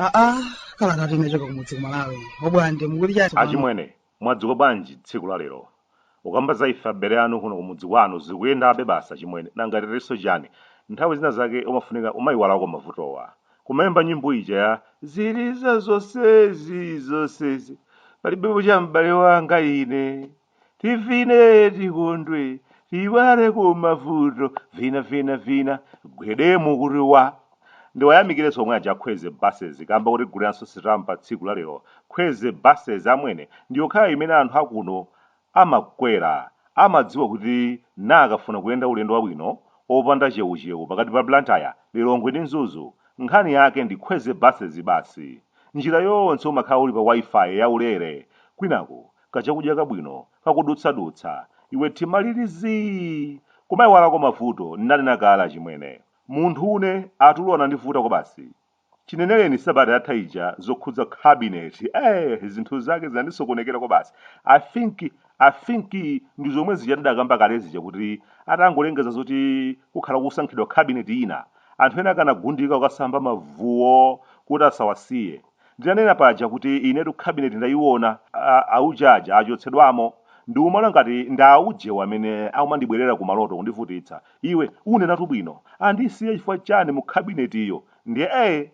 aa kaya ngati unachoka kumudzi ku Malawi obwande mukuti chati achimwene mwadzuka bwanji tsiku la lero Mukamba za ife abale anu kuno kumudzi kwanu zikuyendabe basi achimwene nanga titinso chani nthawi zina zake umafunika umaiwalako mavutowa kumaimba nyimbo ija ya ziliza zosezi zosezi palibepo cha m'bale wanga ine tivine tikondwe tiiwaleko mavuto vina vina vina gwedemu kuti wa Ndiwayamikirenso omwe aja a Khweze Buses kamba kotiguliranso sitampa tsiku la lero. Khweze Buses amwene ndiyokhayo imene anthu akuno amakwera. Amadziwa kuti akafuna kuyenda ulendo wabwino opanda cheucheu pakati pa Blantyre, Lilongwe ndi Mzuzu, nkhani yake ndi Khweze Buses basi. Njira yonse umakhala uli pa Wi-Fi ya ulere kwinaku kachakudya kabwino kakudutsadutsa iwe mtima uli zii! Kumaiwalako mavuto nnanena kale achimwene. Munthu ine atulo anandivuta kwabasi. Chineneleni sabata yatha ija zokhudza cabinet eeh zinthu zake zinandisokonekera kwabasi. I think I think ndizomwe zija tidakamba kale zija kuti atangolengeza zoti kukhala kukusankhidwa cabinet ina anthu ena anagundika kukasamba mavuwo kuti asawasiye. Ndinanena paja kuti inetu cabinet ndayiwona, a, auje aja achotsedwamo, ndikumana ngati ndi aujewo amene akumandibwerera ku maloto kundivutitsa. Iwe, unenetu bwino, andisiya chifukwa chani mu cabinet yo? Ndiye ee!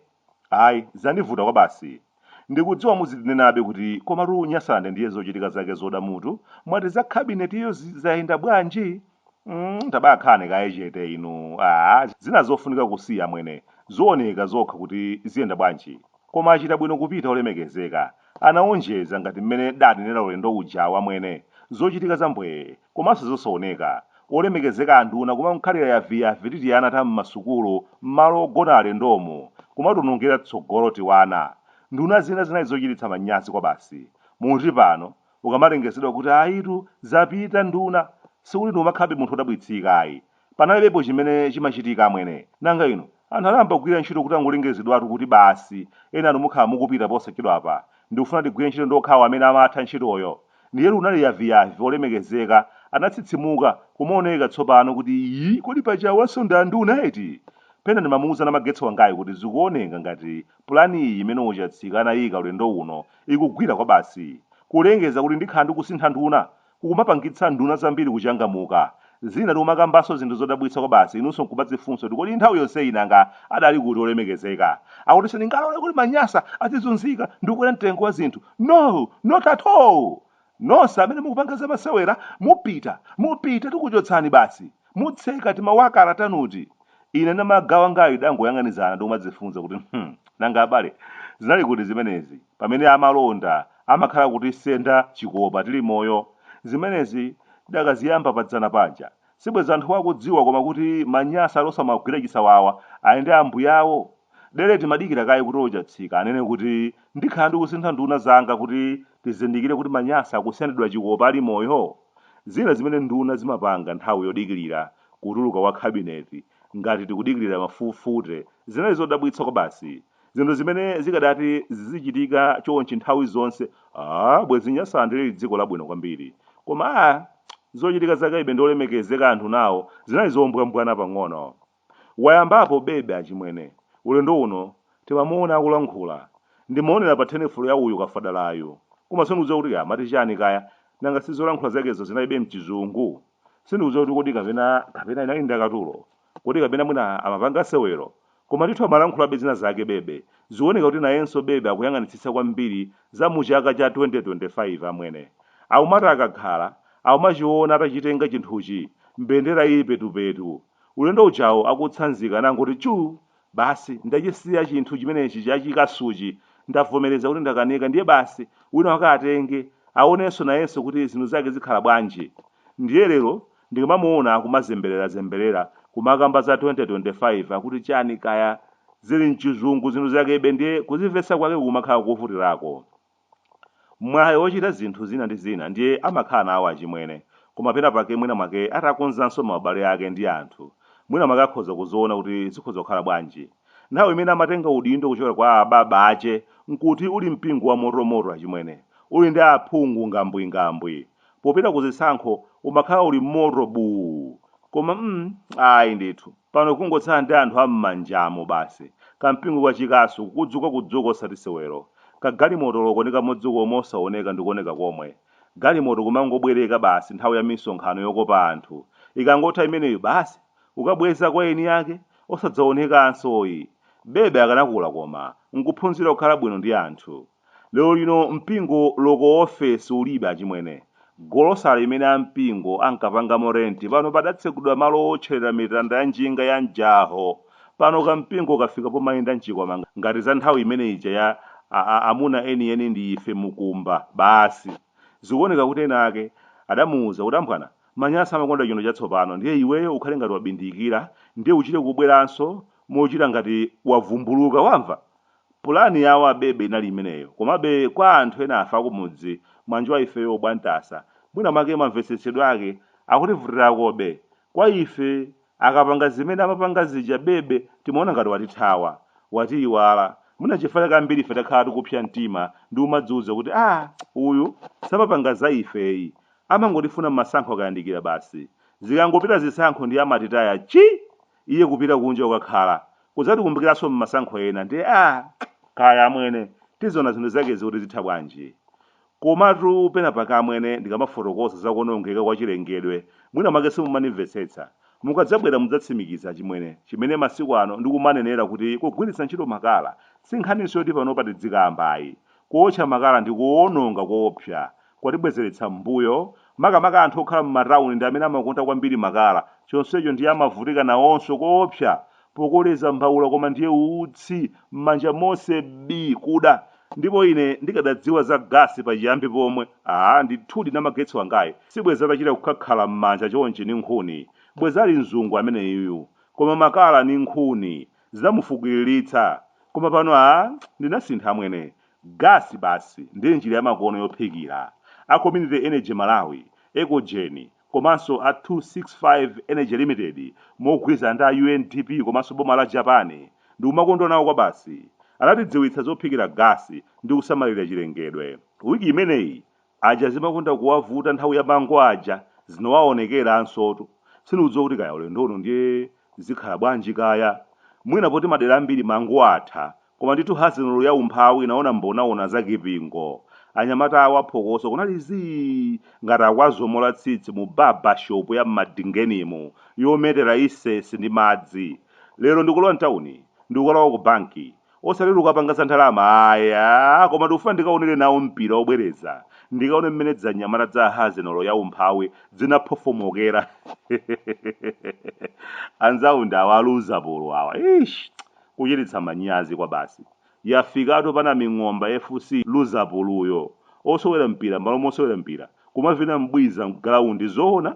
Ayi, zandivuta kwabasi. Ndikudziwa muzindinenabe kuti komatu Nyasaland ndiye zochitika zake zoda mutu, mwati za cabinet yo zi, zayenda bwanji? Mm, tabakhalani kaye chete inu aa zina zofunika kusiya amwene zioneka zokha kuti ziyenda bwanji koma achita bwino kupita olemekezeka anaonjeza ngati mmene danenera ulendo uja wamwene zochitika zambwee komanso zosaoneka olemekezeka anduna kumakhalira yaviyavi ndi tiana ta mmasukulu mmalo ogona alendomu kumationongera tsogolo tiwana nduna zina zinali zochititsa manyazi kwabasi muti pano Kukamalengezedwa kuti ayitu zapita nduna sikuti ndikumakhalabe munthu odabwitsika ayi. Panalibepo chimene chimachitika amwene. Nanga inu anthu anayamba kugwira ntchito kutangolengezedwatu kuti basi enanu mukhala mukupita posachedwapa ndikufuna tigwire ntchito ndi okhawo amene amatha ntchitoyo. Ndiyetu unali yaviyavi olemekezeka anatsitsimuka kumaoneka tsopano kuti ii kodi paja awanso ndi anduna eti? Pena ndimamuuza namagetsi wangayu kuti zikuoneka ngati Pulani iyi imene Ochatsika anayika ulendo uno ikugwira kwabasi. Kulengeza kuti ndikhala ndikusintha nduna kukumapangitsa nduna zambiri kuchangamuka. Zina tikumakambanso zinthu zodabwitsa kwabasi inunso nkumadzifunsa kuti kodi nthawi yonseyi nanga adali kuti olemekezeka? Akuti sindingalole kuti Manyasa adzizunzika ndi kukwera mtengo wa zinthu. No! Not at all! Nonse amene mukupanga zamasewera mupita mupita tikuchotsani basi mutseka timawakala tanuti ine ndi magawangayi tidangoyang'anizana ndikumadzifunsa kuti hmm nanga abale zinali kuti zimenezi pamene amalonda amakhala akutisenda chikopa tili moyo zimenezi tidakaziyamba padzana paja sibwezi anthuwa akudziwa koma kuti manyasa wosamagwira chisawawa ayende ambuyawo Dele timadikira kaye kuti Ochatsika anene kuti ndikhala ndikusintha nduna zanga kuti tizindikire kuti Manyasa akusendedwa chikopa ali moyo? Zina zimene nduna zimapanga nthawi yodikilira kutuluka kwa cabinet ngati tikudikilira mafufute zinali zodabwitsa kwabasi. Zinthu zimene zikadati zizichitika chonchi nthawi zonse aah bwezi Nyasaland lili dziko labwino kwambiri. Koma aah zochitika zakebe ndi olemekezeka anthuwa zinali zombwambwana pang'ono. Wayambapo bebe achimwene. Ulendo uno timamuona akulankhula. Ndimaonera pa tenifolo ya uyu kafadalayu. Koma sindikudziwa kuti kaya amati chani kaya. Nanga si zolankhula zakezo zinalibe mchizungu? Sindikudziwa kuti kodi kapena kapena inali ndakatulo? Kodi kapena mwina amapanga sewero? Koma ndithu amalankhulabe zina zake bebe. Zikuoneka kuti nayenso bebe akuyang'anitsitsa kwambiri za mu chaka cha 2025 amwene. Akumati akakhala, akumachiona atachitenga chinthuchi, mbendera ili petupetu. Ulendo ujawu akutsanzika anangoti chu! Basi ndachisiya chinthu chimenechi cha chikasuchi. Ndavomereza kuti ndakanika ndiye basi wina wake atenge, aonenso nayenso kuti zinthu zake zikhala bwanji. Ndiye lero ndikamamuona akumazembererazemberera kumakamba za 2025 akuti chani kaya, zili m'chizungu zinthu zakebe ndiye kuzimvetsa kwake kumakhala kovutirako. mwayi wochita zinthu zina ndi zina ndiye amakhala nawo achimwene koma pena pake mwina mwake atakonzanso maubale ake ndi anthu mwina mwake akhoza kuziona kuti zikhoza kukhala bwanji nthawi imene amatenga udindo kuchokera kwa ababa ache nkuti uli mpingo wa motomoto achimwene uli ndi aphungu ngambwingambwi popita ku zisankho umakhala uli moto buu koma mm ayi ndithu pano kungotsala ndi anthu ammanjamo basi kampingo ka chikasu kudzukadzuka osati sewero kagalimotoloko nkamodzi komwe osaoneka ndikuoneka komwe galimoto kumangobwereka basi nthawi ya misonkhano yokopa anthu ikangotha imeneyo basi kukabweza kwa eni ake osadzaonekanso yi bebe akanakula kapena nkuphunzira kukhala bwino ndi anthu Lero lino mpingo loko ofesi ulibe achimwene. Golosale imene ampingo ankapangamo rent pano padatsegulidwa malo owotchelera mitanda ya njinga ya mjaho. Pano kampingo kafika pomayenda mchikwama ngati za nthawi imene ija ya amuna enieni ndi ife Mukumba basi. Zikuoneka kuti ena ake adamuuza kuti ambwana manyasi amakonda chinthu chatsopano ndiye iweyo ukhale ngati wabindikira ndiye uchite kubweranso mochita ngati wavumbuluka wamva? Pulani yawo a Bebe inali imeneyo komabe kwa anthu enafe akumudzi mwanjawa ifeyo obwantasa mwina mwake mamvetsetsedwe ake akutivutirakobe. Kwa ife akapanga zimene amapanga zija Bebe timaona ngati watithawa, watiyiwala mwina nchifukwa chake ambirife takhala tikupsya mtima ndi kumadziuza kuti aah uyu samapanga za ifeyi amangotifuna mmasankho akayandikira basi zikangopita zisankho ndiye amatitaya chii! Iye kupita kunja kukakhala, kudzatikumbukiranso mmasankho ena ndiye aah kaya amwene tiziona zinthu zakezi kuti zitha bwanji. Komatu penapake amwene ndikamafotokoza za kuonongeka kwa chilengedwe mwina mwake simumandimvetsetsa. Mukadzabwera mudzatsimikiza achimwene chimene masiku ano ndikumanenera kuti kugwiritsa ntchito makala sinkhaninso yoti panopa tidzikamba ayi. Kuotcha makala ndi kuononga koopsa kwatibwezeretsa m'mbuyo. Makamaka anthu okhala m'matauni ndi amene amakonda kwambiri makala, chonsecho ndiye amavutika nawonso koopsa pokoleza mbaula koma ndiye utsi m'manja monse bii kuda. Ndipo ine ndikadadziwa za gasi pachiyambi pomwe, aa, ndithudi Namagetsi wangayu sibwenzi atachita kukhakhala m'manja chonchi ndi nkhuni. Bwenzi ali mzungu ameneyuyu. Koma makala ndi nkhuni zidamufukiliritsa. Koma pano aa, ndinasintha amwene. Gas basi ndiye njira yamakono yophikira. A Community Energy Malawi, Ecogeni, komanso a 265 Energy Limited mogwirizana ndi a UNDP komanso boma la Japan, ndikumakondwa nawo kwabasi. Anatidziwitsa zophikira gas ndi kusamalira chilengedwe. Week imeneyi Paja zimakonda kuwavuta nthawi ya mango aja zinowaonekeransotu. Sindikudziwa kuti kaya ulendo uno ndiye zikhala bwanji kaya. Mwina poti madera ambiri mango atha. Koma ndithu hazenolo ya umphawi inaona mbonaona za Kipingo. Anyamata awa phokoso kunali zii! ngati akwazomola tsitsi mu barber shop ya m'Madingenimu yometera isesi ndi madzi. Lero ndikulowa m'tauni, ndikukalowa ku banki. osati ndikukapanga za ndalama ayi aa koma ndikufuna ndikaonere nawo mpira obwereza ndikaone mmene dzanyamata dza hazenolo ya umphawi dzinaphofomokera anzawo ndi awa aluza polo awa ish kuchititsa manyazi kwa basi yafikatu pana ming'omba fc luzapoloyo osewera mpira malo momasewera mpira kumavina mbwiza mgalaundi zoona